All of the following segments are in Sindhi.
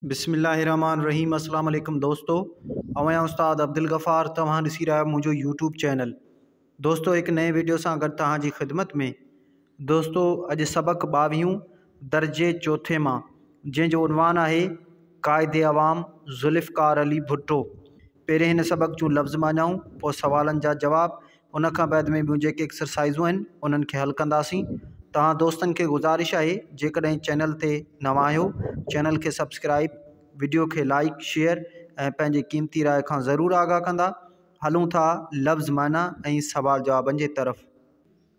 بسم الله الرحمٰن الرحيم اسلام عليڪم دوستو اوهان يا استاد عبدالغفار توهان ڏسي رهيا آهيو منهنجو يوٽيوب چينل دوستو هڪ نئين ويڊيو سان گڏ توهان جي خدمت ۾ دوستو اڄ سبق ٻاويهون درجي چوٿين مان جنهن جو عنوان آهي قائد عوام ذوالفقار علي ڀٽو پهرين هن سبق جون لفظ معنائون، پوء سوالن جا جواب، ان کان بعد ۾ ٻيون جيڪي ايڪسرسائيزون آهن انهن کي حل ڪنداسين. توهان دوستن کي گذارش آهي جيڪڏهن چينل تي نوان آهيو چينل کي سبسڪرائيب، وڊيو کي لائيڪ، شيئر ۽ پنهنجي قيمتي راء کان ضرور آگاهه ڪندا. هلون ٿا لفظ معنيٰ ۽ سوال جوابن جي طرف.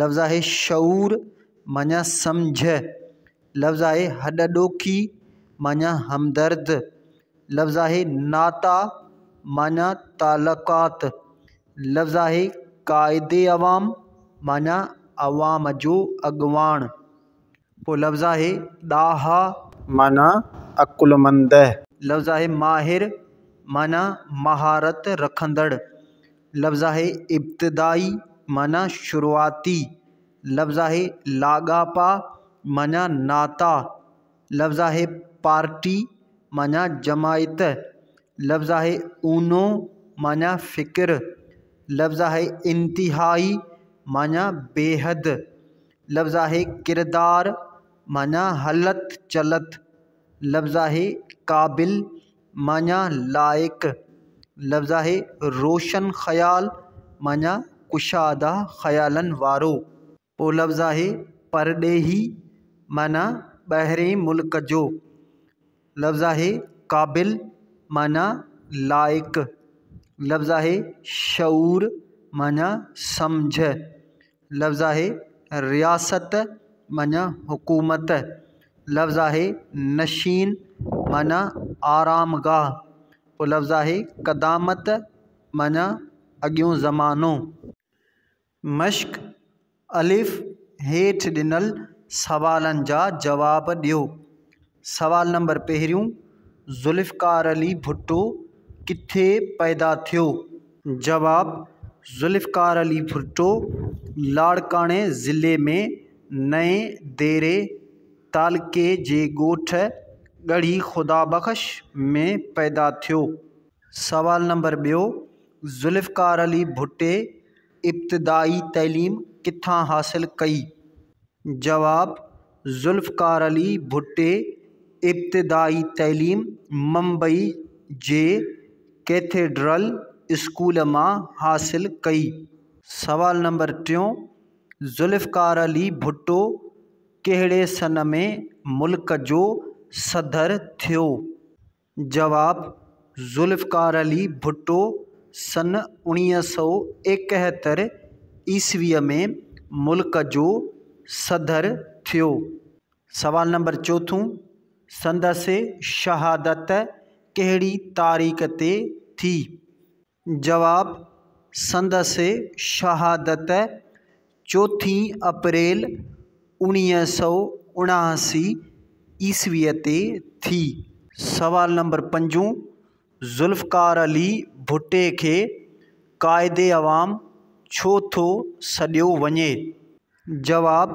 لفظ آهي شعور معنيٰ سمجهه، لفظ آهي هڏڏوکي معنيٰ همدرد، لفظ آهي ناتا معنيٰ تعلقات، لفظ آهي قائد عوام معنيٰ عوام جو اڳواڻ پوء لفظ آهي ڏاها معنيٰ عقلمند. لفظ آهي ماهر معنيٰ مهارت رکندڙ. لفظ آهي ابتدائي معنيٰ شروعاتي. لفظ آهي لاڳاپا معنيٰ ناتا. لفظ آهي پارٽي معنيٰ جماعت. لفظ آهي اونو معنيٰ فڪر. لفظ آهي انتهائي معنيٰ بيحد. لفظ آهي ڪردار معنيٰ هلت چلت لفظ آهي قابل معنيٰ لائق لفظ آهي روشن خيال معنيٰ ڪشاده خيالن وارو ٻيو لفظ آهي پرڏيهي معنيٰ ٻاهرئين ملڪ جو لفظ آهي قابل معنيٰ لائق لفظ آهي شعور معنيٰ سمجهه لفظ آهي رياست معنيٰ حڪومت لفظ آهي نشين معنيٰ آرام گاهه پوء لفظ آهي قدامت معنيٰ اڳيون زمانو مشق الف هيٺ ڏنل سوالن جا جواب ڏيو سوال نمبر پهريون، ذوالفقار علي ڀٽو ڪٿي پيدا ٿيو؟ جواب، ذوالفقار علي ڀٽو لاڙڪاڻي ضلعي ۾ نئين ديري تعلقي جي ڳوٺ ڳڙهي خدا بخش ۾ پيدا ٿيو. سوال نمبر ٻيو، ذوالفقار علي ڀٽي ابتدائي تعليم ڪٿان حاصل ڪئي؟ جواب، ذوالفقار علي ڀٽي ابتدائي تعليم ممبئي جي ڪيٿيڊرل اسڪول مان حاصل ڪئي. سوال نمبر ٽيون، ذوالفقار علي ڀٽو ڪهڙي سن ۾ ملڪ جو صدر ٿيو؟ جواب، ذوالفقار علي ڀٽو سن اوڻيهه سؤ ايڪهتر عيسويء ۾ ملڪ جو صدر ٿيو. سوال نمبر چوٿون، سندس شهادت ڪهڙي تاريخ تي ٿي؟ جواب، سندس شهادت چوٿين اپريل اوڻيهه سؤ اڻاهسي عيسويء تي ٿي. سوال نمبر پنجون، ذوالفقار علي ڀٽي کي قائد عوام ڇو ٿو سڏيو وڃي؟ جواب،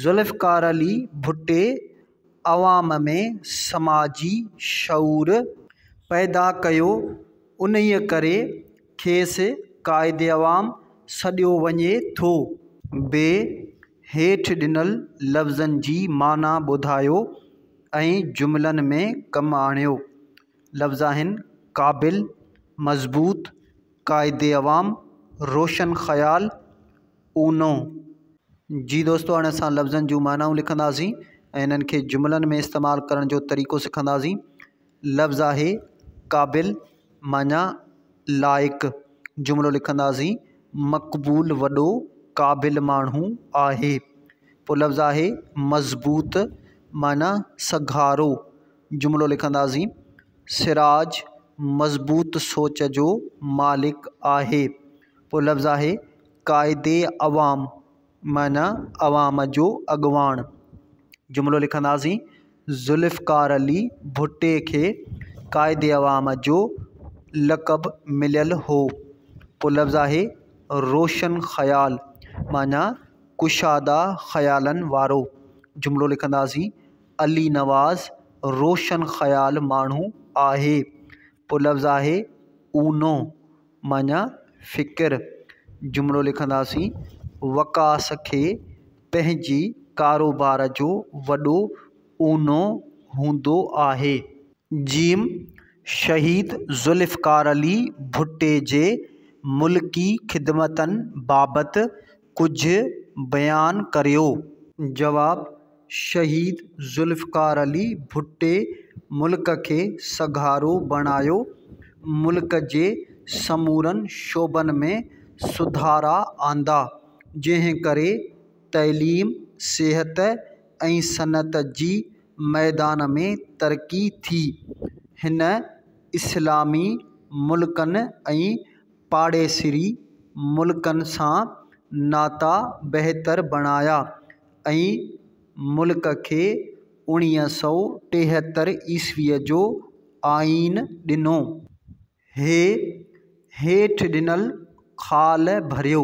ذوالفقار علي ڀٽي عوام ۾ سماجي شعور پيدا ڪيو انهيء ڪري کيس قائد عوام سڏيو وڃي ٿو. ب هيٺ ڏنل لفظن جي معنيٰ ٻڌايو ۽ جملن ۾ ڪم آڻيو. لفظ آهن، قابل، مضبوط، قائد عوام، روشن خيال. اونو، جي دوستو هاڻي اسان لفظن جون معنائون لکنداسين ۽ انهن کي جملن ۾ استعمال ڪرڻ جو طريقو سکنداسين. لفظ آهي قابل معنيٰ لائق جملو لکنداسين مقبول وڏو قابل ماڻهو آهي. پوء لفظ آهي مضبوط معنيٰ سگهارو جملو لکنداسين سراج مضبوط سوچ جو مالڪ آهي. پوء لفظ آهي. قائد عوام معنيٰ عوام جو اڳواڻ جملو لکنداسين ذوالفقار علي ڀٽي کي قائد عوام جو لقب مليل هو پو لفظ آهي روشن خيال معنيٰ ڪشادا خيالن وارو جملو لکنداسين علي نواز روشن خيال ماڻهو آهي پو لفظ آهي اونو معنيٰ، فڪر، جملو لکنداسين، وقاص کي پنهنجي ڪاروبار جو وڏو اونو هوندو آهي. ج شهيد ذوالفقار علي ڀٽي جي ملڪي خدمتن بابت ڪجهه بيان ڪريو. جواب، شهيد ذوالفقار علي ڀٽي ملڪ کي سگهارو بڻايو، ملڪ جي سمورن شعبن ۾ سڌارا آندا، جنهن ڪري تعليم، صحت ۽ صنعت جي ميدان ۾ ترقي ٿي. هن اسلامي ملڪن ۽ پاڙيسري ملڪن سان ناتا بهتر بڻايا ۽ ملڪ کي اوڻيهه سؤ ٽيهتر عيسويء جو آئين ڏنو. هي هيٺ ڏنل خال ڀريو.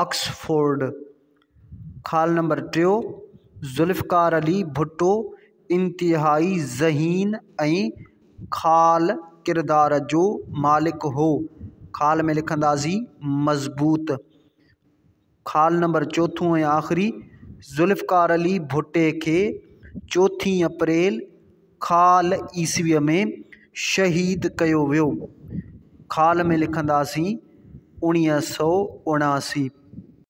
آڪسفورڊ، خال نمبر ٽيو، ذوالفقار علي ڀٽو انتهائي ذهين ۽ خال ڪردار جو مالڪ هو، خال ۾ لکندازي مضبوط، خال نمبر چوٿون ۽ آخري، ذوالفقار علي ڀٽي کي چوٿين اپريل خال عيسويء ۾ شهيد ڪيو ويو. خال ۾ لکنداسين اڻيهه سؤ اڻاسي.